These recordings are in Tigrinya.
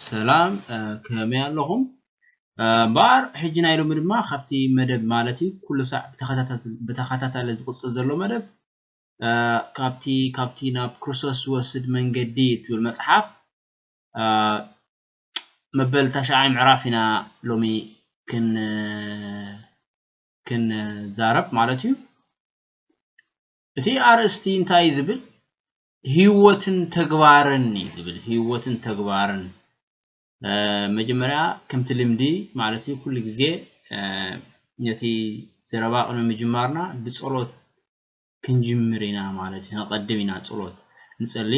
ሰላም ከመይ ኣለኹም እምበኣር ሕጂ ናይ ሎሚ ድማ ካብቲ መደብ ማለት እዩ ኩሉ ሳዕ ብተኸታታሊ ዝቕጽል ዘሎ መደብ ካብቲ ካብቲ ናብ ክርስቶስ ዝወስድ መንገዲ እትብል መጽሓፍ መበል ታሽዓይ ምዕራፍ ኢና ሎሚ ክንዛረብ ማለት እዩ እቲ ኣርእስቲ እንታይ እዩ ዝብል ህይወትን ተግባርን እዩ ዝብል ህይወትን ተግባርን መጀመርያ ከምቲ ልምዲ ማለት እዩ ኩሉ ግዜ ነቲ ዘረባ ቅድሚ ምጅማርና ብጸሎት ክንጅምር ኢና ማለት እዩ ነቐድም ኢና ጸሎት ንጸሊ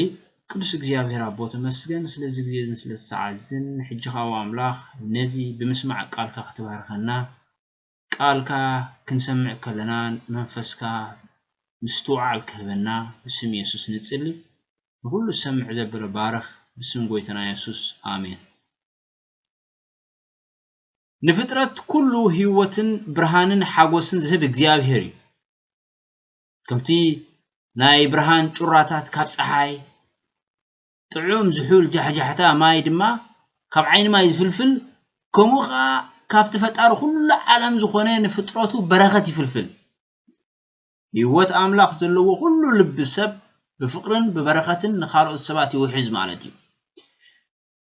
ቅዱስ እግዚኣብሔር ኣቦ ተመስገን ስለዚ ግዜ እዝን ስለ ሰዓት እዝን ሕጂ ካው ኣምላኽ ነዚ ብምስማዕ ቃልካ ክትባርከና ቃልካ ክንሰምዕ ከለና መንፈስካ ምስትውዓል ክህበና ብስም የሱስ ንጽሊ ንኩሉ ዝሰምዕ ዘበለ ባርኽ ብስም ጎይተና የሱስ ኣሜን። ንፍጥረት ኩሉ ህይወትን ብርሃንን ሓጎስን ዝህብ እግዚኣብሄር እዩ። ከምቲ ናይ ብርሃን ጩራታት ካብ ጸሓይ ጥዑም ዝሑል ጃሕጃሕታ ማይ ድማ ካብ ዓይኒ ማይ ዝፍልፍል ከምኡ ከኣ ካብቲ ፈጣሪ ኩሉ ዓለም ዝኾነ ንፍጥረቱ በረኸት ይፍልፍል። ህይወት ኣምላኽ ዘለዎ ኩሉ ልቢ ሰብ ብፍቕርን ብበረኸትን ንኻልኦት ሰባት ይውሕዝ ማለት እዩ።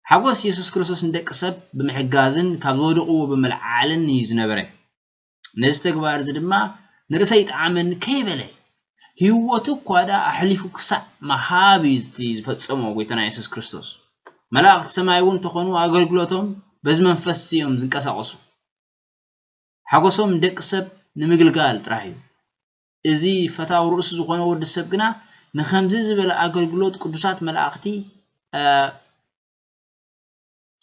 ሓጎስ የሱስ ክርስቶስ ንደቂ ሰብ ብምሕጋዝን ካብ ዝወደቕዎ ብምልዓዓልን እዩ ዝነበረ። ነዚ ተግባር እዚ ድማ ንርእሰ ይጥዓመኒ ከይበለ ህይወቱ እኳ ደኣ ኣሕሊፉ ክሳዕ ምሃብ እዩ እቲ ዝፈጸሞ ጐይታና የሱስ ክርስቶስ። መላእኽቲ ሰማይ እውን እንተኾኑ ኣገልግሎቶም በዚ መንፈስ እዮም ዝንቀሳቐሱ። ሓጐሶም ንደቂ ሰብ ንምግልጋል ጥራሕ እዩ። እዚ ፈታው ርእሱ ዝኾነ ወዲ ሰብ ግና ንኸምዚ ዝበለ ኣገልግሎት ቅዱሳት መላእኽቲ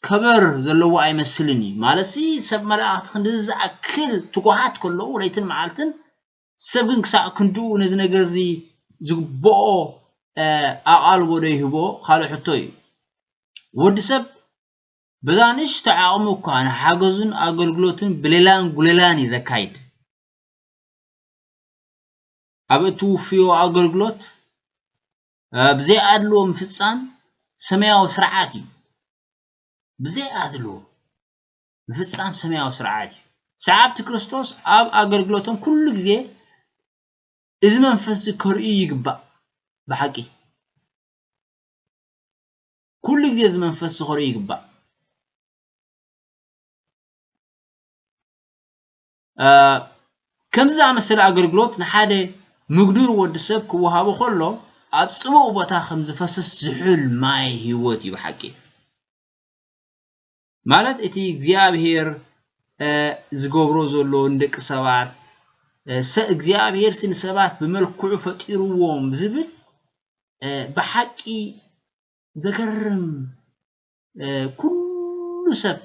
ከበር ዘለዎ ኣይመስልን እዩ ማለትሲ ሰብ መላእክቲ ክንድዚ ዝኣክል ትጉሃት ከለዉ ለይትን መዓልትን ሰብ ግን ክሳዕ ክንድኡ ነዚ ነገር እዚ ዝግብኦ ኣቓልቦ ዶ ይህቦ ካልእ ሕቶ እዩ ወዲ ሰብ በዛ ንእሽቶ ዓቕሙ እኳ ንሓገዙን ኣገልግሎትን ብሌላን ጉሌላን እዩ ዘካይድ ኣብ እትውፍዮ ኣገልግሎት ብዘይ ኣድልዎ ምፍጻም ሰማያዊ ስርዓት እዩ። ብዘይ ኣድልዎ ምፍጻም ሰማያዊ ስርዓት እዩ። ሰዓብቲ ክርስቶስ ኣብ ኣገልግሎቶም ኩሉ ግዜ እዚ መንፈስዚ ከርእዩ ይግባእ። ብሓቂ ኩሉ ግዜ እዚ መንፈስ ዝኸርኡ ይግባእ። ከምዚ ዝኣመሰለ ኣገልግሎት ንሓደ ምግዱር ወዲ ሰብ ክወሃቦ ከሎ ኣብ ጽቡቕ ቦታ ከም ዝፈስስ ዝሑል ማይ ህይወት እዩ ብሓቂ ማለት እቲ እግዚኣብሄር ዝገብሮ ዘሎ ንደቂ ሰባት እግዚኣብሄር ሲ ንሰባት ብመልክዑ ፈጢርዎም ዝብል ብሓቂ ዘገርም ኩሉ ሰብ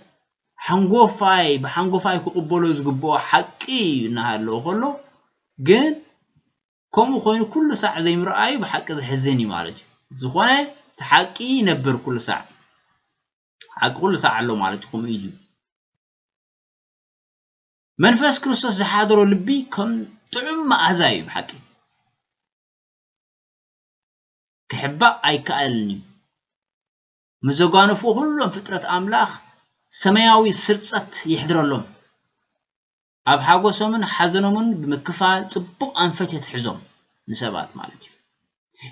ሓንጎፋይ ብሓንጎፋይ ክቕበሎ ዝግብኦ ሓቂ እዩ እናሃለወ ከሎ ግን ከምኡ ኮይኑ ኩሉ ሳዕ ዘይምርኣዩ ብሓቂ ዘሕዝን እዩ ማለት እዩ። ዝኾነ እቲ ሓቂ ይነብር ኩሉ ሳዕ ሓቂ ኩሉ ሳዕ ኣሎ ማለት እዩ ከምኡ ኢሉ መንፈስ ክርስቶስ ዝሓደሮ ልቢ ከም ጥዑም መኣዛ እዩ ብሓቂ ክሕባእ ኣይከኣልን እዩ ምስ ዘጓንፉ ዅሎም ፍጥረት ኣምላኽ ሰማያዊ ስርጸት የሕድረሎም። ኣብ ሓጐሶምን ሓዘኖምን ብምክፋል ጽቡቕ ኣንፈት የትሕዞም፣ ንሰባት ማለት እዩ።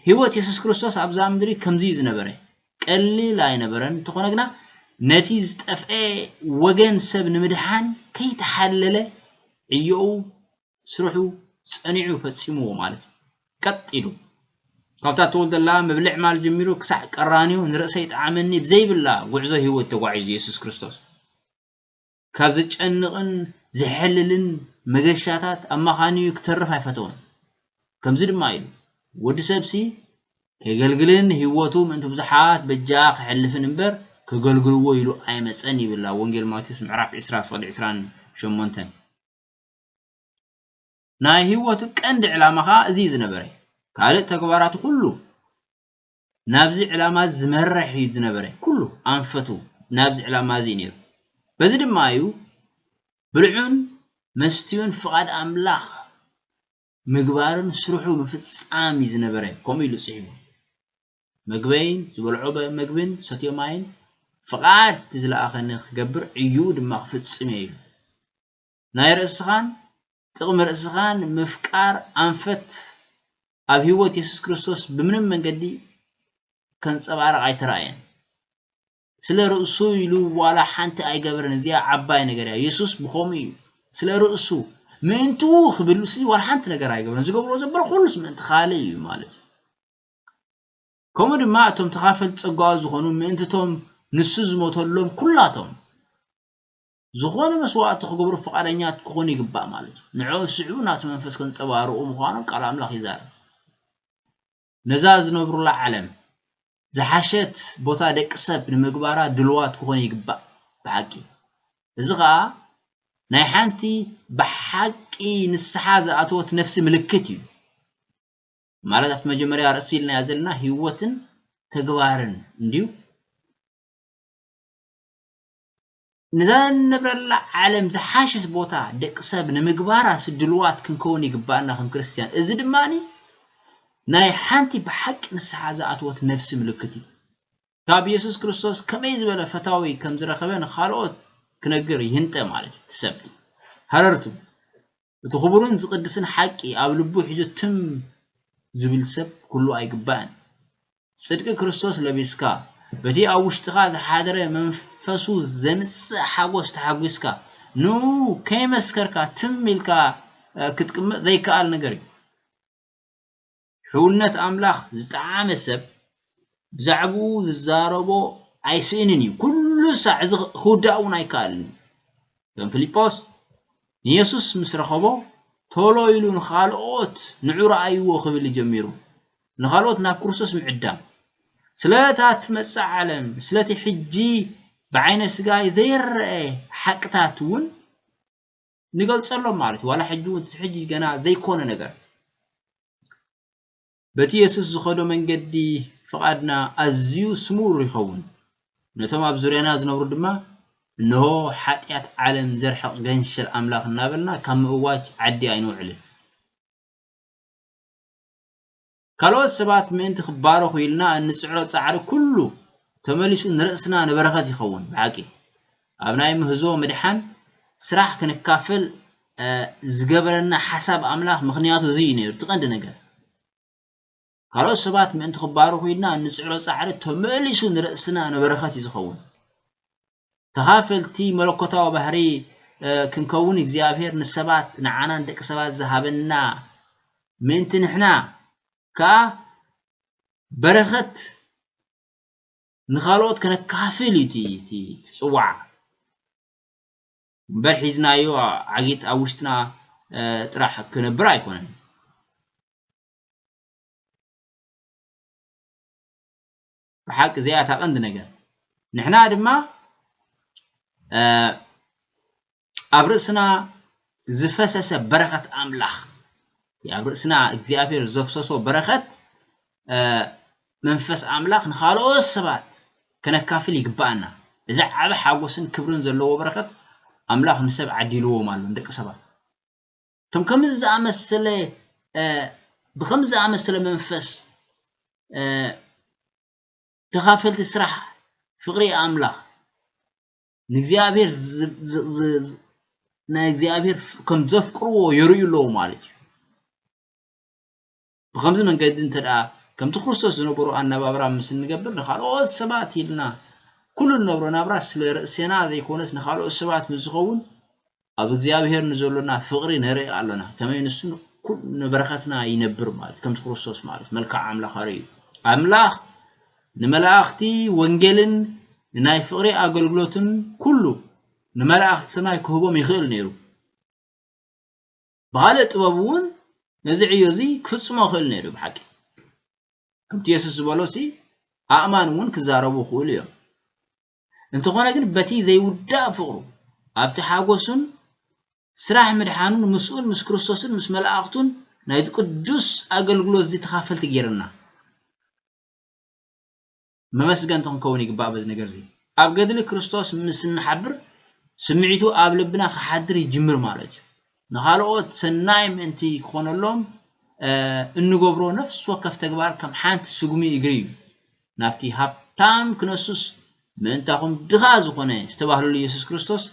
ህይወት የሱስ ክርስቶስ ኣብዛ ምድሪ ከምዚ እዩ ዝነበረ። ቀሊል ኣይነበረን፣ እንተዀነ ግና ነቲ ዝጠፍኤ ወገን ሰብ ንምድሓን ከይተሓለለ ዕዮኡ ስርሑ ጸኒዑ ፈጺምዎ ማለት እዩ። ቀጥ ኢሉ። ካብታ እተወልደላ ምብልዕማል ጀሚሩ ክሳዕ ቀራንዮ ንርእሰይ ጥዓመኒ ብዘይብላ ጉዕዞ ህይወት ተጓዒዙ የሱስ ክርስቶስ። ካብ ዘጨንቕን ዘሕልልን መገሻታት ኣማኻንዩ ክተርፍ ኣይፈተወን። ከምዚ ድማ ኢሉ፣ ወዲ ሰብሲ ኬገልግልን ህይወቱ ምእንቲ ብዙሓት በጃ ኼሕልፍን እምበር፣ ኬገልግልዎ ኢሉ ኣይመጸን ይብል ኣብ ወንጌል ማቴዎስ ምዕራፍ ዕስራ ፍቕዲ ዕስራን ሸሞንተን። ናይ ህይወቱ ቀንዲ ዕላማ ከኣ እዚ እዩ ዝነበረ። ካልእ ተግባራቱ ኩሉ ናብዚ ዕላማ እዚ ዝመርሕ እዩ ዝነበረ። ኩሉ ኣንፈቱ ናብዚ ዕላማ እዚ እዩ ነይሩ። በዚ ድማ እዩ ብልዑን መስትዩን ፍቓድ ኣምላኽ ምግባርን ስርሑ ምፍጻም እዩ ዝነበረ ከምኡ ኢሉ ጽሒፉ። መግበይን ዝበልዖ መግብን ሰትዮ ማይን ፍቓድ እቲ ዝለኣኸኒ ክገብር ዕዩኡ ድማ ክፍጽም እየ ኢሉ። ናይ ርእስኻን ጥቕሚ ርእስኻን ምፍቃር ኣንፈት ኣብ ህይወት የሱስ ክርስቶስ ብምንም መንገዲ ከንጸባርቕ ኣይተራእየን። ስለ ርእሱ ኢሉ ዋላ ሓንቲ ኣይገበረን እዚኣ ዓባይ ነገር እያ። የሱስ ብኸምኡ እዩ ስለ ርእሱ ምእንትኡ ክብልሲ ዋላ ሓንቲ ነገር ኣይገብረን። ዝገብሮ ዘበለ ኩሉስ ምእንቲ ካልእ እዩ ማለት እዩ። ከምኡ ድማ እቶም ተኻፈልቲ ጸጋኡ ዝኾኑ ምእንትቶም ንሱ ዝሞተሎም ኩላቶም ዝኾነ መስዋእቲ ክገብሩ ፍቓደኛት ክኾኑ ይግባእ ማለት እዩ። ንዕኦም ዝስዕቡ ናቱ መንፈስ ከንጸባርቑ ምዃኖም ቃል ኣምላኽ ይዛረብ። ነዛ ዝነብሩላ ዓለም ዝሓሸት ቦታ ደቂ ሰብ ንምግባራ ድልዋት ክኾኑ ይግባእ ብሓቂ። እዚ ኸኣ ናይ ሓንቲ ብሓቂ ንስሓ ዝኣተወት ነፍሲ ምልክት እዩ። ማለት ኣብቲ መጀመርያ ርእሲ ኢልናያ ዘለና ህይወትን ተግባርን እንድዩ። ነዛ እንነብረላ ዓለም ዝሓሸት ቦታ ደቅሰብ ንምግባራ ድሉዋት ክንከውን ይግብኣና ከም ክርስትያን። እዚ ድማ ናይ ሓንቲ ብሓቂ ንስሓ ዝኣተወት ነፍሲ ምልክት እዩ። ካብ የሱስ ክርስቶስ ከመይ ዝበለ ፈታዊ ከም ዝረኸበ ንኻልኦት ክነግር ይህንጠ ማለት እዩ። ትሰብቲ ሃረርቱ እቲ ክቡርን ዝቅድስን ሓቂ ኣብ ልቡ ሒዙ ትም ዝብል ሰብ ክህሉ ኣይግባእን። ጽድቂ ክርስቶስ ለቢስካ፣ በቲ ኣብ ውሽጥኻ ዝሓደረ መንፈሱ ዘምጽእ ሓጎስ ተሓጒስካ፣ ንእኡ ከይመስከርካ ትም ኢልካ ክትቅመጥ ዘይከኣል ነገር እዩ። ሕውነት ኣምላኽ ዝጠዓመ ሰብ ብዛዕብኡ ዝዛረቦ ኣይስእንን እዩ፣ ኩሉ ሳዕ እዚ ክውዳእ እውን ኣይከኣልን እዩ። ከም ፊልጶስ ንየሱስ ምስ ረኸቦ ቶሎ ኢሉ ንኻልኦት ንዑ ረኣይዎ ክብል እዩ ጀሚሩ፣ ንኻልኦት ናብ ክርስቶስ ምዕዳም። ስለ እታ እትመጽእ ዓለም፣ ስለቲ ሕጂ ብዓይነ ስጋ ዘይረኣ ሓቅታት እውን ንገልጸሎም ማለት እዩ ዋላ ሕጂ እውን ሕጂ ገና ዘይኮነ ነገር በቲ የሱስ ዝኸዶ መንገዲ ፍቓድና ኣዝዩ ስሙር ይኸውን ነቶም ኣብ ዙርያና ዝነብሩ ድማ እንሆ ሓጢኣት ዓለም ዘርሕቕ ገንሽል ኣምላኽ እናበልና ካብ ምእዋጅ ዓዲ ኣይንውዕልን ካልኦት ሰባት ምእንቲ ክባረኹ ኢልና እንጽዕሮ ጻዕሪ ኩሉ ተመሊሱ ንርእስና ንበረኸት ይኸውን። ብሓቂ ኣብ ናይ ምህዞ ምድሓን ስራሕ ክንካፈል ዝገበረና ሓሳብ ኣምላኽ ምኽንያቱ እዚ እዩ ነይሩ እቲ ቀንዲ ነገር። ካልኦት ሰባት ምእንቲ ክባረኹ ኢልና እንጽዕሮ ጻዕሪ ተመሊሱ ንርእስና ንበረኸት እዩ ዝኸውን። ተኻፈልቲ መለኮታዊ ባህሪ ክንከውን እግዚኣብሔር ንሰባት ንዓና ንደቂ ሰባት ዝሃበና ምእንቲ ንሕና ከኣ በረኸት ንኻልኦት ከነካፍል እዩ እቲ ጽዋዕ እምበር ሒዝናዮ ዓጊት ኣብ ውሽጥና ጥራሕ ክነብር ኣይኮነን ብሓቂ እዚኣ እታ ቀንዲ ነገር ንሕና ድማ ኣብ ርእስና ዝፈሰሰ በረኸት ኣምላኽ ኣብ ርእስና እግዚኣብሔር ዘፍሰሶ በረኸት መንፈስ ኣምላኽ ንኻልኦት ሰባት ከነካፍል ይግባኣና እዚ ዓቢ ሓጎስን ክብርን ዘለዎ በረኸት ኣምላኽ ንሰብ ዓዲልዎም ኣሎ ንደቂ ሰባት እቶም ከምዚ ዝኣመሰለ ብከምዚ ዝኣመሰለ መንፈስ ተኻፈልቲ ስራሕ ፍቕሪ ኣምላኽ ንእግዚኣብሔር ናይ እግዚኣብሔር ከም ዘፍቅርዎ የርእዩ ኣለዉ ማለት እዩ ብኸምዚ መንገዲ እንተድኣ ከምቲ ክርስቶስ ዝነበሮ ኣነባብራ ምስ እንገብር ንኻልኦት ሰባት ኢልና ኩሉ እንነብሮ ናብራ ስለ ርእሴና ዘይኮነስ ንኻልኦት ሰባት ምስ ዝኸውን ኣብ እግዚኣብሔር ንዘሎና ፍቕሪ ነርኢ ኣሎና ከመይ ንሱ ንበረኸትና ይነብር ማለት ከምቲ ክርስቶስ ማለት መልክዕ ኣምላኽ ኣርእዩ ኣምላኽ ንመላእኽቲ ወንጌልን ንናይ ፍቕሪ ኣገልግሎትን ኩሉ ንመላእኽቲ ሰማይ ክህቦም ይኽእል ነይሩ ብኻልእ ጥበቡ እውን ነዚ ዕዮ እዚ ክፍጽሞ ይኽእል ነይሩ እዩ ብሓቂ ከምቲ የሱስ ዝበሎሲ ኣእማን እውን ክዛረቡ ይኽእሉ እዮም እንተኾነ ግን በቲ ዘይውዳእ ፍቕሩ ኣብቲ ሓጎሱን ስራሕ ምድሓኑን ምስኡን ምስ ክርስቶስን ምስ መላእኽቱን ናይዚ ቅዱስ ኣገልግሎት እዚ ተኻፈልቲ ጌርና መመስገንቲ ክንከውን ይግባእ በዚ ነገር እዚ። ኣብ ገድሊ ክርስቶስ ምስ እንሓብር ስምዒቱ ኣብ ልብና ክሓድር ይጅምር ማለት እዩ። ንኻልኦት ሰናይ ምእንቲ ክኾነሎም እንገብሮ ነፍሲ ወከፍ ተግባር ከም ሓንቲ ስጉሚ እግሪ እዩ ናብቲ ሃብታም ክነሱስ ምእንታኹም ድኻ ዝኾነ ዝተባህለሉ ኢየሱስ ክርስቶስ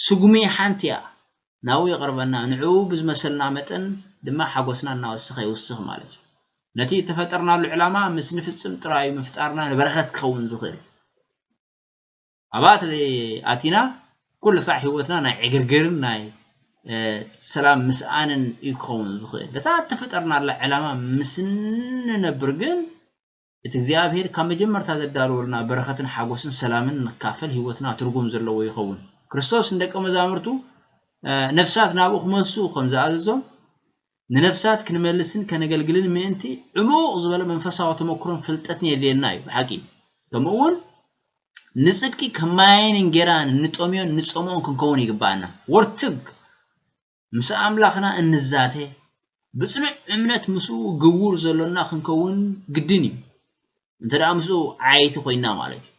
ስጉሚ ሓንቲ እያ፣ ናብኡ የቕርበና፣ ንዕኡ ብዝመሰልና መጠን ድማ ሓጎስና እናወሰኸ ይውስኽ ማለት እዩ። ነቲ እተፈጠርናሉ ዕላማ ምስ ንፍጽም ጥራይ እዩ ምፍጣርና ንበረኸት ክኸውን ዝኽእል። ኣብኣ ኣቲና ኩሉ ሳዕ ህይወትና ናይ ዕግርግርን ናይ ሰላም ምስኣንን እዩ ክኸውን ዝኽእል። እታ እተፈጠርናላ ዕላማ ምስ እንነብር ግን እቲ እግዚኣብሄር ካብ መጀመርታ ዘዳለወልና በረኸትን ሓጎስን ሰላምን ንካፈል ህይወትና ትርጉም ዘለዎ ይኸውን። ክርስቶስ ንደቀ መዛሙርቱ ነፍሳት ናብኡ ክመሱ ከም ዝኣዘዞም ንነፍሳት ክንመልስን ከነገልግልን ምእንቲ ዕሙቕ ዝበለ መንፈሳዊ ተመክሮን ፍልጠትን የድልየና እዩ ብሓቂ ከምኡ እውን ንጽድቂ ከም ማይን እንጌራን እንጠምዮን ንጸምኦን ክንከውን ይግባኣና ወርትግ ምስ ኣምላኽና እንዛተ፣ ብጽኑዕ እምነት ምስኡ ግቡር ዘሎና ክንከውን ግድን እዩ፣ እንተ ደኣ ምስኡ ዓያይቲ ኮይንና ማለት እዩ።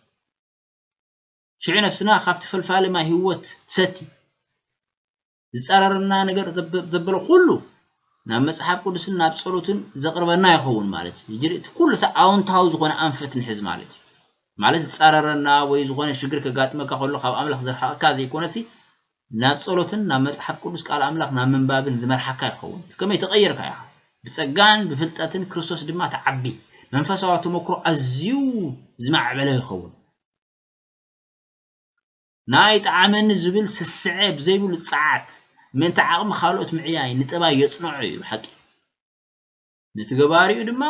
ሽዑ ነፍስና ካብቲ ፈልፋሊ ማይ ህይወት ትሰቲ። ዝጻረረና ነገር ዘበለ ኩሉ ናብ መጽሓፍ ቅዱስን ናብ ጸሎትን ዘቕርበና ይኸውን ማለት እዩ። ሕጂ እቲ ኩሉ ሳዕ ኣውንታዊ ዝኾነ ኣንፈት ንሕዝ ማለት እዩ። ማለት ዝጻረረና ወይ ዝኾነ ሽግር ከጋጥመካ ከሎ ካብ ኣምላኽ ዘርሕቐካ ዘይኮነሲ ናብ ጸሎትን ናብ መጽሓፍ ቅዱስ ቃል ኣምላኽ ናብ ምንባብን ዝመርሓካ ይኸውን። እቲ ከመይ ተቐይርካ ኢኻ። ብጸጋን ብፍልጠትን ክርስቶስ ድማ ትዓቢ። መንፈሳዊ ተመክሮ ኣዝዩ ዝማዕበለ ይኸውን። ናይ ጠዓመኒ ዝብል ስስዐ ብዘይብሉ ጸዓት፣ ምእንቲ ዓቕሚ ካልኦት ምዕያይ ንጠባይ የጽንዖ እዩ ብሓቂ። ነቲ ገባሪኡ ድማ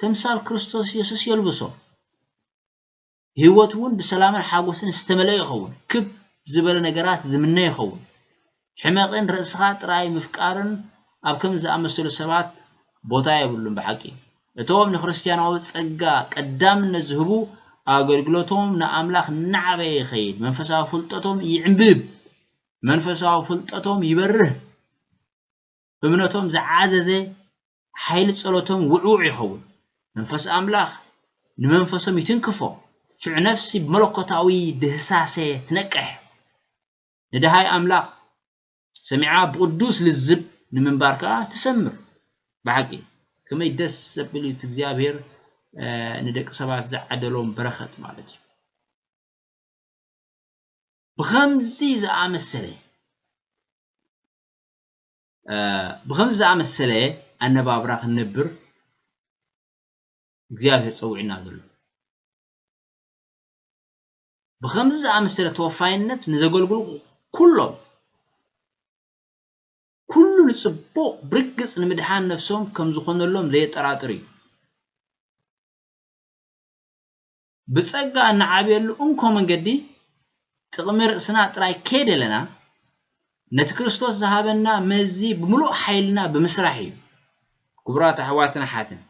ተምሳል ክርስቶስ የሱስ የልብሶ። ህይወቱ እውን ብሰላምን ሓጐስን ዝተመልአ ይኸውን፣ ክብ ዝበለ ነገራት ዝምነ ይኸውን። ሕመቕን ርእስኻ ጥራይ ምፍቃርን ኣብ ከምዚ ዝኣመሰሉ ሰባት ቦታ የብሉን። ብሓቂ፣ እቶም ንክርስትያናዊ ጸጋ ቀዳምነት ዝህቡ ኣገልግሎቶም ንኣምላኽ እናዓበየ ይኸይድ፣ መንፈሳዊ ፍልጠቶም ይዕምብብ፣ መንፈሳዊ ፍልጠቶም ይበርህ፣ እምነቶም ዝዓዘዘ ሓይሊ ጸሎቶም ውዕዉዕ ይኸውን፣ መንፈስ ኣምላኽ ንመንፈሶም ይትንክፎ፣ ሽዑ ነፍሲ ብመለኮታዊ ድህሳሰ ትነቅሕ፣ ንደሃይ ኣምላኽ ሰሚዓ ብቕዱስ ልዝብ ንምንባር ከኣ ትሰምር። ብሓቂ ከመይ ደስ ዘብል እዩ እቲ እግዚኣብሔር ንደቂ ሰባት ዝዓደሎም በረኸት ማለት እዩ። ብኸምዚ ዝኣመሰለ ብኸምዚ ዝኣመሰለ ኣነባብራ ክንነብር እግዚኣብሔር ጸዊዑና ዘሎ። ብኸምዚ ዝኣመሰለ ተወፋይነት ንዘገልግሉ ኩሎም ኩሉ ንጽቡቕ ብርግጽ ንምድሓን ነፍሶም ከም ዝኾነሎም ዘየጠራጥር እዩ። ብጸጋ እንዓብየሉ እንኮ መንገዲ ጥቕሚ ርእስና ጥራይ ከይደለና ነቲ ክርስቶስ ዝሃበና መዚ ብምሉእ ሓይልና ብምስራሕ እዩ። ክቡራት ኣሕዋትን ኣሓትን፣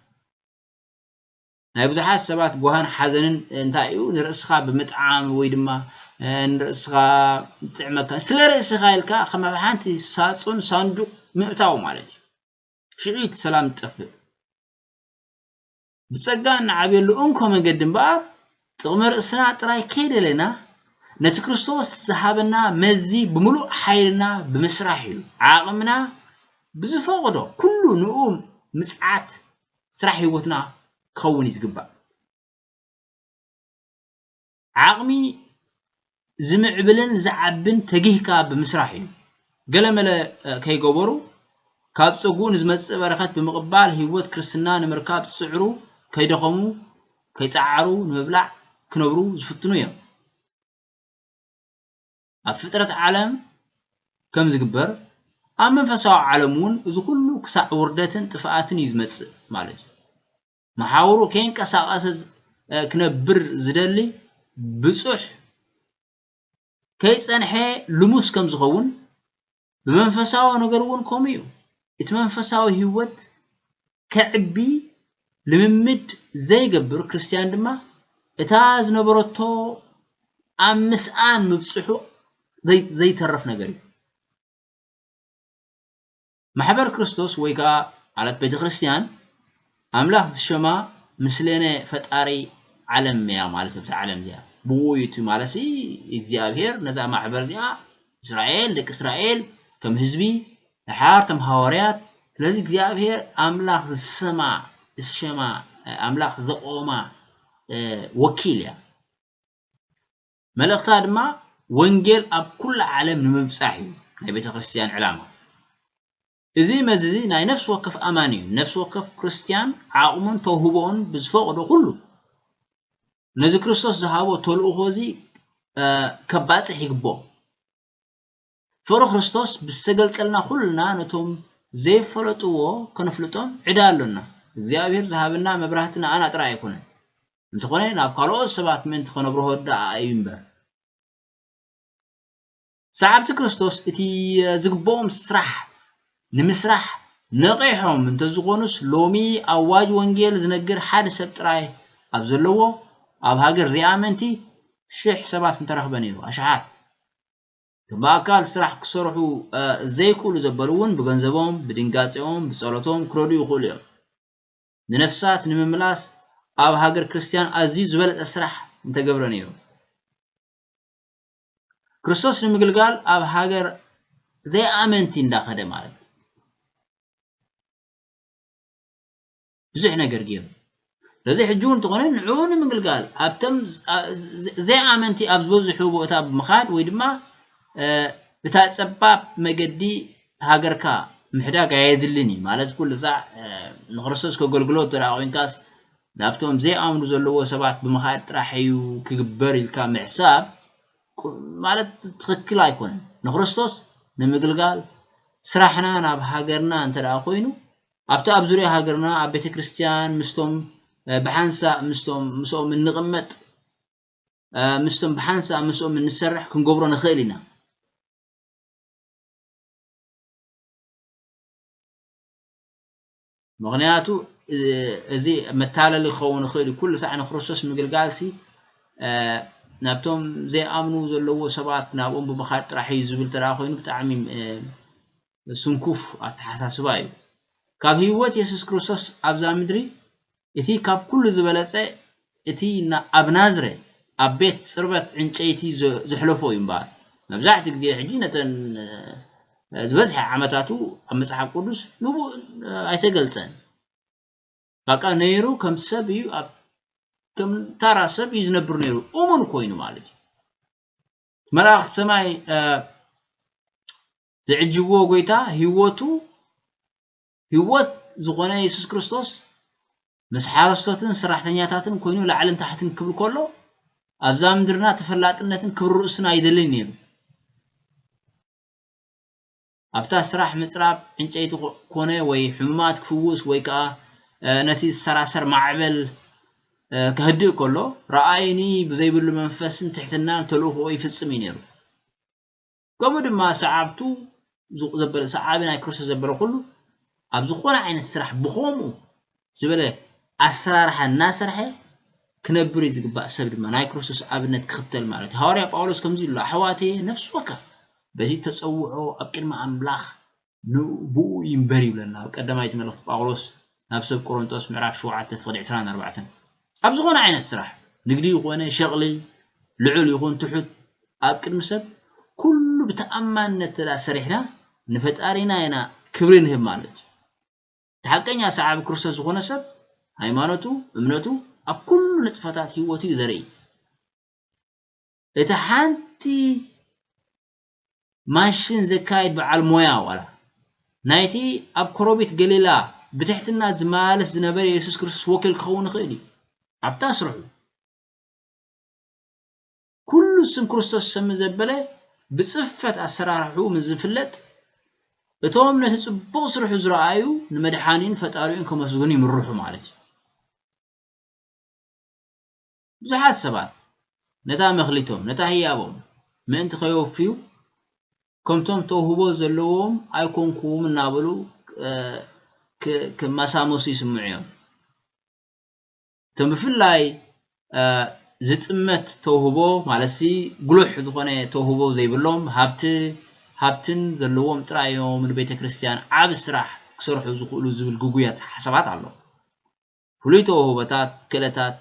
ናይ ብዙሓት ሰባት ጓህን ሓዘንን እንታይ እዩ? ንርእስኻ ብምጥዓም ወይ ድማ ንርእስኻ ጥዕመካ ስለ ርእስኻ ኢልካ ከም ኣብ ሓንቲ ሳጹን ሳንዱቕ ምእታው ማለት እዩ። ሽዑ እቲ ሰላም ዝጠፍእ። ብጸጋ እንዓብየሉ እንኮ መገዲ እምበኣር፣ ጥቕሚ ርእስና ጥራይ ከይደለና፣ ነቲ ክርስቶስ ዝሃበና መዚ ብምሉእ ሓይልና ብምስራሕ እዩ። ዓቕምና ብዝፈቕዶ ኩሉ ንእኡ ምጽዓት ስራሕ ህይወትና ክኸውን እዩ ዝግባእ። ዓቕሚ ዝምዕብልን ዝዓብን ተጊህካ ብምስራሕ እዩ። ገለመለ ከይገበሩ ካብ ፀጉኡ ንዝመፅእ በረከት ብምቕባል ህይወት ክርስትና ንምርካብ ዝፅዕሩ ከይደኸሙ ከይፀዓሩ ንምብላዕ ክነብሩ ዝፍትኑ እዮም። ኣብ ፍጥረት ዓለም ከም ዝግበር ኣብ መንፈሳዊ ዓለም እውን እዚ ኩሉ ክሳዕ ውርደትን ጥፍኣትን እዩ ዝመፅእ ማለት እዩ። መሓውሩ ከይንቀሳቐሰ ክነብር ዝደሊ ብጹሕ ከይጸንሐ ልሙስ ከም ዝኸውን ብመንፈሳዊ ነገር እውን ከምኡ እዩ። እቲ መንፈሳዊ ህይወት ከዕቢ ልምምድ ዘይገብር ክርስትያን ድማ እታ ዝነበረቶ ኣብ ምስኣን ምብጽሑ ዘይተርፍ ነገር እዩ። ማሕበር ክርስቶስ ወይ ከኣ ማለት ቤተ ክርስትያን ኣምላኽ ዝሸማ ምስሌነ ፈጣሪ ዓለም እያ ማለት እብዛ ዓለም እዚኣ ብኡ እዩ እቲ ማለትሲ እግዚኣብሔር ነዛ ማሕበር እዚኣ እስራኤል ደቂ እስራኤል ከም ህዝቢ ድሓር ተም ሃዋርያት ስለዚ እግዚኣብሔር ኣምላኽ ዝሰማ ዝሸማ ኣምላኽ ዘቆማ ወኪል እያ መልእኽታ ድማ ወንጌል ኣብ ኩላ ዓለም ንምብጻሕ እዩ ናይ ቤተ ክርስትያን ዕላማ። እዚ መዝዚ ናይ ነፍሲ ወከፍ ኣማኒ እዩ። ነፍሲ ወከፍ ክርስትያን ዓቕሙን ተውህቦኡን ብዝፈቕዶ ኩሉ ነዚ ክርስቶስ ዝሃቦ ተልእኾ እዚ ከባጽሕ ይግብኦ። ፍቕሪ ክርስቶስ ብዝተገልጸልና ኩልና ነቶም ዘይፈለጥዎ ከነፍልጦም ዕዳ ኣሎና። እግዚኣብሔር ዝሃበና መብራህቲ ንኣና ጥራይ ኣይኮነን፣ እንተኾነ ናብ ካልኦት ሰባት ምእንቲ ከነብርሆ ደኣ እዩ እምበር። ሰዓብቲ ክርስቶስ እቲ ዝግብኦም ስራሕ ንምስራሕ ነቒሖም እንተዝኾኑስ ሎሚ ኣዋጅ ወንጌል ዝነግር ሓደ ሰብ ጥራይ ኣብ ዘለዎ ኣብ ሃገር ዘይኣመንቲ ሽሕ ሰባት ምተረኽበ ነይሩ። ኣሽሓት። ብኣካል ስራሕ ክሰርሑ ዘይክእሉ ዘበሉ እውን ብገንዘቦም፣ ብድንጋጼኦም፣ ብጸሎቶም ክረድኡ ይኽእሉ እዮም። ንነፍሳት ንምምላስ ኣብ ሃገር ክርስትያን ኣዝዩ ዝበለጸ ስራሕ ምተገብረ ነይሩ። ክርስቶስ ንምግልጋል ኣብ ሃገር ዘይኣመንቲ እንዳኸደ ማለት ብዙሕ ነገር ገይሩ። ስለዚ ሕጂ እውን እንተኾነ ንዕኡ ንምግልጋል ኣብቶም ዘይኣመንቲ ኣብ ዝበዝሑ ቦታ ብምኻድ ወይ ድማ እታ ጸባብ መገዲ ሃገርካ ምሕዳግ ኣየድልን እዩ ማለት ኩሉ ሳዕ ንክርስቶስ ከገልግሎ እንተ ኮንካስ ናብቶም ዘይኣምኑ ዘለዎ ሰባት ብምኻድ ጥራሕ እዩ ክግበር ኢልካ ምሕሳብ ማለት ትኽክል ኣይኮነን ንክርስቶስ ንምግልጋል ስራሕና ናብ ሃገርና እንተ ኮይኑ ኣብቲ ኣብ ዙርያ ሃገርና ኣብ ቤተ ክርስትያን ምስቶም ብሓንሳእ ምስቶም ምስኦም እንቕመጥ ምስቶም ብሓንሳእ ምስኦም እንሰርሕ ክንገብሮ ንኽእል ኢና። ምክንያቱ እዚ መታለሊ ክኸውን ይኽእል እዩ ኩሉ ሳዕ ንክርስቶስ ምግልጋልሲ ናብቶም ዘይኣምኑ ዘለዎ ሰባት ናብኦም ብምኻድ ጥራሕ እዩ ዝብል ተደኣ ኮይኑ ብጣዕሚ ስንኩፍ ኣተሓሳስባ እዩ። ካብ ህይወት የሱስ ክርስቶስ ኣብዛ ምድሪ እቲ ካብ ኩሉ ዝበለጸ እቲ ኣብ ናዝረ ኣብ ቤት ጽርበት ዕንጨይቲ ዘሕለፎ እዩ እምበኣር መብዛሕትኡ ግዜ ሕጂ ነተን ዝበዝሐ ዓመታቱ ኣብ መጽሓፍ ቅዱስ ንቡእ ኣይተገልጸን ባቃ ነይሩ ከም ሰብ እዩ ኣብ ከም ታራ ሰብ እዩ ዝነብር ነይሩ እሙን ኮይኑ ማለት እዩ መላእኽቲ ሰማይ ዝዕጅብዎ ጎይታ ህይወቱ ህይወት ዝኾነ የሱስ ክርስቶስ ምስ ሓረስቶትን ስራሕተኛታትን ኮይኑ ላዕልን ታሕትን ክብል ከሎ ኣብዛ ምድርና ተፈላጥነትን ክብሪ ርእሱን ኣይደልን ነይሩ ኣብታ ስራሕ ምፅራብ ዕንጨይቲ ኮነ ወይ ሕሙማት ክፍውስ ወይ ከዓ ነቲ ዝሰራሰር ማዕበል ከህድእ ከሎ ረኣይኒ ብዘይብሉ መንፈስን ትሕትናን ተልእኽኦ ይፍፅም እዩ ነይሩ ከምኡ ድማ ሰዓብቱ ዘበለ ሰዓቢ ናይ ክርስቶስ ዘበለ ኩሉ ኣብ ዝኾነ ዓይነት ስራሕ ብኸምኡ ዝበለ ኣሰራርሓ እናሰርሐ ክነብር እዩ ዝግባእ ሰብ ድማ ናይ ክርስቶስ ኣብነት ክኽተል ማለት እዩ ሃዋርያ ጳውሎስ ከምዚ ኢሉ ኣሕዋተየ ነፍሲ ወከፍ በቲ ተጸውዖ ኣብ ቅድሚ ኣምላኽ ንእቡኡ ይንበር ይብለና ኣብ ቀዳማይቲ መልእኽቲ ጳውሎስ ናብ ሰብ ቆሮንጦስ ምዕራፍ ሸውዓተ ፍቕዲ ዕስራን ኣርባዕተን። ኣብ ዝኾነ ዓይነት ስራሕ፣ ንግዲ ኮነ ሸቕሊ፣ ልዑል ይኹን ትሑት፣ ኣብ ቅድሚ ሰብ ኩሉ ብተኣማንነት እንተድኣ ሰሪሕና ንፈጣሪና ኢና ክብሪ ንህብ ማለት እዩ። እቲ ሓቀኛ ሰዓቢ ክርስቶስ ዝኾነ ሰብ ሃይማኖቱ፣ እምነቱ፣ ኣብ ኩሉ ንጥፈታት ህይወቱ እዩ ዘርኢ። እቲ ሓንቲ ማሽን ዘካይድ በዓል ሞያ ዋላ ናይቲ ኣብ ኮረቢት ገሊላ ብትሕትና ዝመላለስ ዝነበረ የሱስ ክርስቶስ ወኪል ክኸውን ይኽእል እዩ። ኣብታ ስርሑ ኩሉ ስም ክርስቶስ ሰሚ ዘበለ ብጽፈት ኣሰራርሕኡ ምስ ዝፍለጥ እቶም ነቲ ጽቡቕ ስርሑ ዝረኣዩ ንመድሓኒን ፈጣሪኡን ከመስግኑ ይምርሑ ማለት እዩ። ብዙሓት ሰባት ነታ መክሊቶም፣ ነታ ህያቦም፣ ምእንቲ ከየውፍዩ፣ ከምቶም ተውህቦ ዘለዎም ኣይኮንኩን እናበሉ ክማሳመሱ ይስምዑ እዮም። እቶም ብፍላይ ዝጥመት ተውህቦ ማለትሲ ጉሉሕ ዝኾነ ተውህቦ ዘይብሎም፣ ሃብቲ ሃብትን ዘለዎም ጥራይ እዮም ንቤተ ክርስቲያን ዓቢ ስራሕ ክሰርሑ ዝኽእሉ ዝብል ግጉይ ኣተሓሳስባት ኣሎ። ፍሉይ ተውህቦታት፣ ክእለታት፣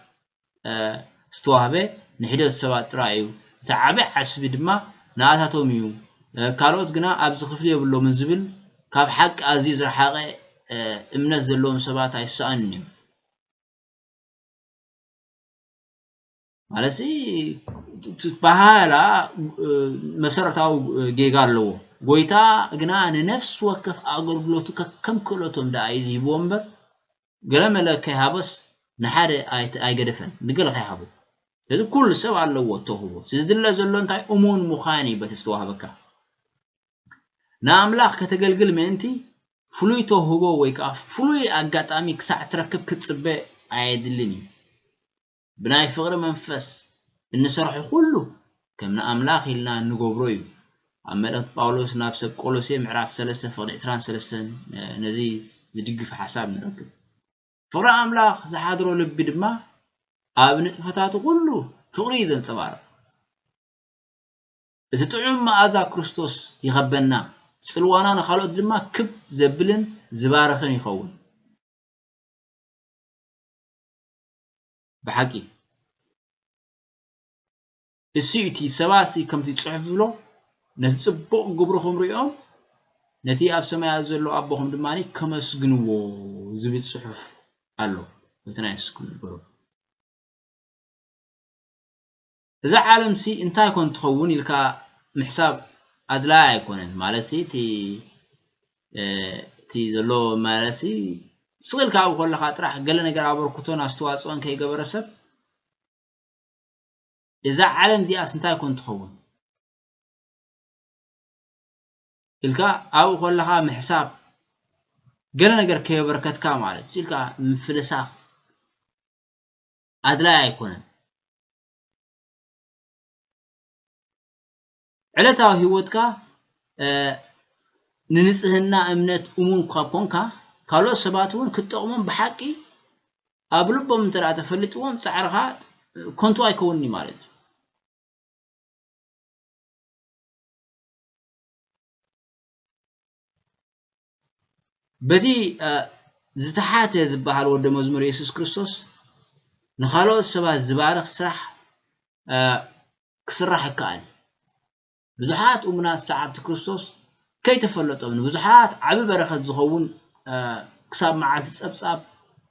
ዝተዋህበ ንሒደት ሰባት ጥራይ እዩ፣ እቲ ዓቢ ዓስቢ ድማ ንኣታቶም እዩ፣ ካልኦት ግና ኣብዚ ክፍሊ የብሎምን ዝብል ካብ ሓቂ ኣዝዩ ዝረሓቐ እምነት ዘለዎም ሰባት ኣይሰኣንን እዩ። ማለት ትበሃል መሰረታዊ ጌጋ ኣለዎ ጎይታ ግና ንነፍሲ ወከፍ ኣገልግሎቱ ከከም ክእለቶም ደኣ እዩ ዝሂብዎ እምበር ገለ መለ ከይሃበስ ንሓደ ኣይገደፈን ንገለ ከይሃቦ ስለዚ ኩሉ ሰብ ኣለዎ እተውህቦ ዝድለ ዘሎ እንታይ እሙን ምዃን እዩ በቲ ዝተዋህበካ ንኣምላኽ ከተገልግል ምእንቲ ፍሉይ ተውህቦ ወይ ከዓ ፍሉይ ኣጋጣሚ ክሳዕ ትረክብ ክትፅበ ኣየድልን እዩ ብናይ ፍቕሪ መንፈስ እንሰርሖ ዅሉ ከም ንኣምላኽ ኢልና እንገብሮ እዩ። ኣብ መልእኽቲ ጳውሎስ ናብ ሰብ ቆሎሴ ምዕራፍ ሰለስተ ፍቕዲ ዕስራን ሰለስተን ነዚ ዝድግፍ ሓሳብ ንረክብ። ፍቕሪ ኣምላኽ ዝሓድሮ ልቢ ድማ ኣብ ንጥፈታቱ ዅሉ ፍቕሪ እዩ ዘንጸባርቕ። እቲ ጥዑም መኣዛ ክርስቶስ ይኸበና፣ ጽልዋና ንኻልኦት ድማ ክብ ዘብልን ዝባርኽን ይኸውን። ብሓቂ እሱ እቲ ሰባሲ ከምቲ ጽሑፍ ዝብሎ ነቲ ጽቡቕ ግብርኹም ርእዮም ነቲ ኣብ ሰማያት ዘሎ ኣቦኹም ድማ ከመስግንዎ ዝብል ጽሑፍ ኣሎ ከምቲ ናይ የሱስ ግበሩ እዛ ዓለምሲ እንታይ ኮን ትኸውን ኢልካ ምሕሳብ ኣድላዪ ኣይኮነን ማለትሲ እቲ እቲ ዘሎ ማለትሲ ስቕ ኢልካ ኣብኡ ከለኻ ጥራሕ ገለ ነገር ኣበርክቶን ኣስተዋፅኦን ከይገበረ ሰብ እዛ ዓለም እዚኣስ እንታይ ኮን ትኸውን ኢልካ ኣብኡ ከለኻ ምሕሳብ ገለ ነገር ከየበርከትካ ማለት ኢልካ ምፍልሳፍ ኣድላዪ ኣይኮነን። ዕለታዊ ህይወትካ ንንጽህና እምነት እሙን እኳ ኰንካ፣ ካልኦት ሰባት እውን ክትጠቕሞም ብሓቂ ኣብ ልቦም እንተ ተፈሊጥዎም ጻዕርኻ ከንቱ ኣይከውንን እዩ ማለት እዩ። በቲ ዝተሓተ ዝበሃል ወደ መዝሙር የሱስ ክርስቶስ ንኻልኦት ሰባት ዝባርኽ ስራሕ ክስራሕ ይከኣል እዩ። ብዙሓት እሙናት ሰዓብቲ ክርስቶስ ከይተፈለጦም ንብዙሓት ዓቢ በረኸት ዝኸውን ክሳብ መዓልቲ ጸብጻብ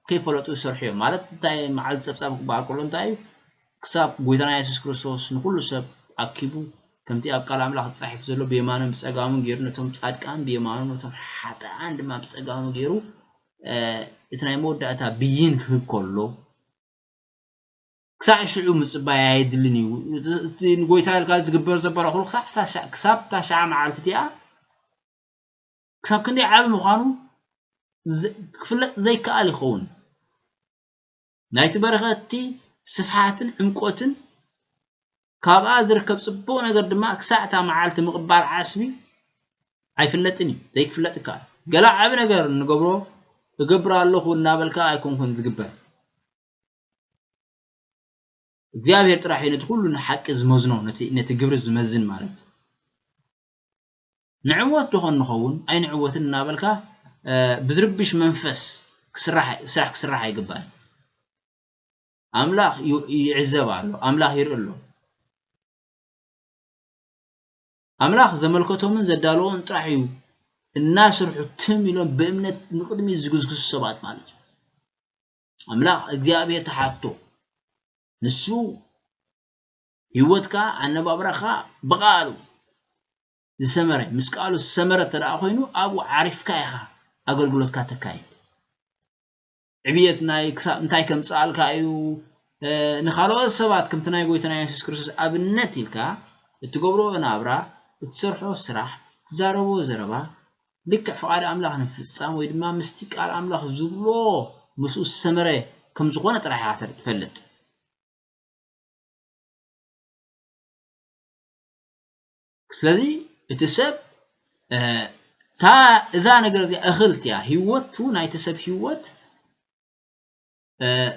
ከይፈለጡ ይሰርሑ እዮም ማለት እንታይ መዓልቲ ጸብጻብ ክበሃል ከሎ እንታይ እዩ ክሳብ ጎይታና የሱስ ክርስቶስ ንኹሉ ሰብ ኣኪቡ ከምቲ ኣብ ቃል ኣምላኽ ተጻሒፉ ዘሎ ብየማኑን ብጸጋሙን ጌሩ ነቶም ጻድቃን ብየማኑ ነቶም ሓጥኣን ድማ ብጸጋሙ ጌሩ እቲ ናይ መወዳእታ ብይን ክህብ ከሎ ክሳዕ ሽዑ ምጽባይ ኣየድልን እዩ እቲ ንጎይታ ኢልካ ዝግበር ዘበረ ኩሉ ክሳብ እታ ሸዓ መዓልቲ እቲኣ ክሳብ ክንደይ ዓቢ ምዃኑ ክፍለጥ ዘይከኣል ይኸውን ናይቲ በረኸትቲ ስፍሓትን ዕምቈትን፣ ካብኣ ዝርከብ ጽቡቕ ነገር ድማ ክሳዕ እታ መዓልቲ ምቕባል ዓስቢ ኣይፍለጥን እዩ፣ ዘይክፍለጥ ይከኣል። ገለ ዓቢ ነገር እንገብሮ እገብር ኣለኹ እናበልካ ኣይኮንኩን ዝግበር። እግዚኣብሔር ጥራሕ እዩ ነቲ ኩሉ ንሓቂ ዝመዝኖ ነቲ ግብሪ ዝመዝን ማለት እዩ። ንዕወት ዶኾን ንኸውን ኣይንዕወትን እናበልካ ብዝርብሽ መንፈስ ስራሕ ክስራሕ ኣይግባእን። ኣምላኽ ይዕዘብ ኣሎ፣ ኣምላኽ ይርኢ ኣሎ። ኣምላኽ ዘመልከቶምን ዘዳለዎን ጥራሕ እዩ እናስርሑ ትም ኢሎም ብእምነት ንቕድሚት ዝግዝግሱ ሰባት ማለት እዩ። ኣምላኽ እግዚኣብሔር ተሓቶ ንሱ ሂወትካ ኣነባብራኻ ብቃሉ ዝሰመረ ምስ ቃሉ ዝሰመረ እተደኣ ኮይኑ ኣብኡ ዓሪፍካ ኢኻ ኣገልግሎትካ ተካይድ ዕብየት ናይ ክሳብ እንታይ ከምጽኣልካ እዩ ንኻልኦት ሰባት ከምቲ ናይ ጎይታና የሱስ ክርስቶስ ኣብነት ኢልካ እትገብሮ ናብራ እትሰርሖ ስራሕ ትዛረቦ ዘረባ ልክዕ ፍቓድ ኣምላኽ ንምፍጻም ወይ ድማ ምስቲ ቃል ኣምላኽ ዝብሎ ምስኡ ዝሰመረ ከም ዝኾነ ጥራሕ ኢኻ ትፈልጥ ስለዚ እቲ ሰብ እታ እዛ ነገር እዚኣ እኽልት እያ ህይወቱ ናይቲ ሰብ ህይወት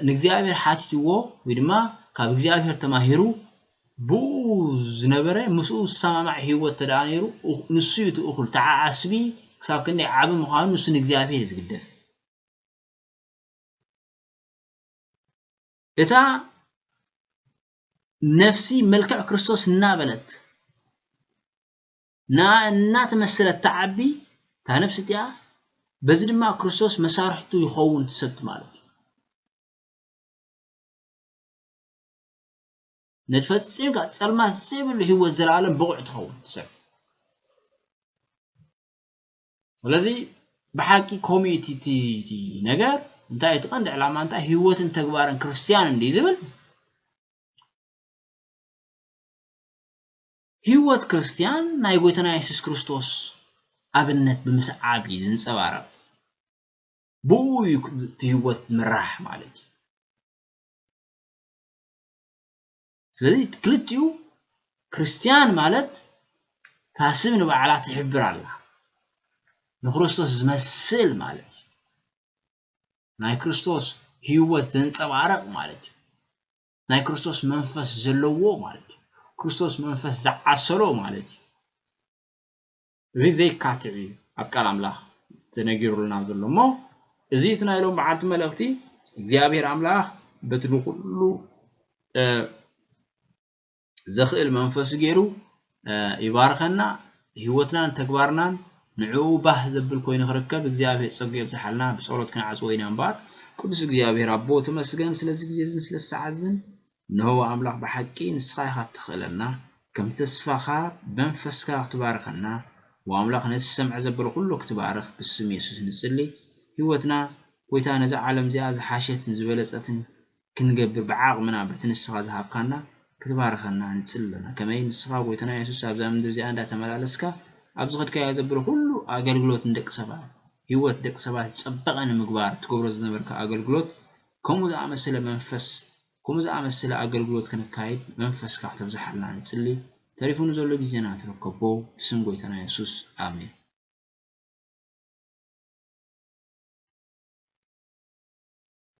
ንእግዚኣብሔር ሓቲትዎ ወይ ድማ ካብ እግዚኣብሔር ተማሂሩ ብኡ ዝነበረ ምስኡ ዝሰማማዕ ህይወት ተደኣ ነይሩ ንሱ እዩ እቲ እኹል ተዓዓስቢ ክሳብ ክንደይ ዓቢ ምዃኑ ንሱ ንእግዚኣብሔር እዩ ዝግደፍ እታ ነፍሲ መልክዕ ክርስቶስ እናበለት ንኣ እናተመሰለት ትዓቢ እታ ነፍሲ እቲኣ በዚ ድማ ክርስቶስ መሳርሕቱ ይኸውን ትሰብቲ ማለት እዩ ነቲ ፈፂምካ ፀልማት ዘይብሉ ህይወት ዘለኣለም ብቑዕ ትኸውን ትሰብ ስለዚ ብሓቂ ከምኡ እዩ እቲ እቲ ነገር እንታይ እቲ ቀንዲ ዕላማ እንታይ ህይወትን ተግባርን ክርስትያን እንዲ ዝብል ህይወት ክርስትያን ናይ ጎይታና የሱስ ክርስቶስ ኣብነት ብምስዓብ እዩ ዝንጸባረቕ ብኡ እዩ እቲ ህይወት ዝምራሕ ማለት እዩ ስለዚ ክልቲኡ ክርስትያን ማለት እታ ስም ንባዕላ ትሕብር ኣላ ንክርስቶስ ዝመስል ማለት እዩ ናይ ክርስቶስ ህይወት ዘንጸባርቕ ማለት እዩ ናይ ክርስቶስ መንፈስ ዘለዎ ማለት እዩ ክርስቶስ መንፈስ ዝዓሰሎ ማለት እዩ እዚ ዘይካትዕ እዩ ኣብ ቃል ኣምላኽ ተነጊሩልና ዘሎ እሞ እዚ እቲ ናይ ሎም መዓልቲ መልእኽቲ እግዚኣብሔር ኣምላኽ በቲ ንኹሉ ዘኽእል መንፈሱ ገይሩ ይባርኸና ህይወትናን ተግባርናን ንዕኡ ባህ ዘብል ኮይኑ ክርከብ እግዚኣብሔር ጸጉ የብዝሓልና ብጸሎት ክንዓጽዎ ኢና እምበኣር ቅዱስ እግዚኣብሔር ኣቦ ተመስገን ስለዚ ግዜ እዝን ስለ ሰዓት እዝን እነሆ ኣምላኽ ብሓቂ ንስኻ ኢኻ እትኽእለና ከም ተስፋኻ ብመንፈስካ ክትባርኸና ዎኣምላኽ ነቲ ሰምዐ ዘበለ ኩሉ ክትባርኽ ብስም የሱስ ንጽሊ ሂወትና ጎይታ ነዛ ዓለም እዚኣ ዝሓሸትን ዝበለጸትን ክንገብር ብዓቅምና በቲ ንስኻ ዝሃብካና ክትባርኸና ንጽሊ ኣሎና ከመይ ንስኻ ጎይታና የሱስ ኣብዛ ምድሪ እዚኣ እንዳ ተመላለስካ ኣብ ዝኸድካዮ ዘበለ ኩሉ ኣገልግሎት ንደቂ ሰባት ሂወት ደቂ ሰባት ዝጸበቀ ንምግባር እትገብሮ ዝነበርካ ኣገልግሎት ከምኡ ዝኣመሰለ መንፈስ ከምኡ ዝኣመሰለ ኣገልግሎት ክንካይድ መንፈስካ ክተብዝሓልና ንጽሊ ተሪፉ ንዘሎ ግዜና ተረከቦ ብስም ጎይታና የሱስ ኣሜን።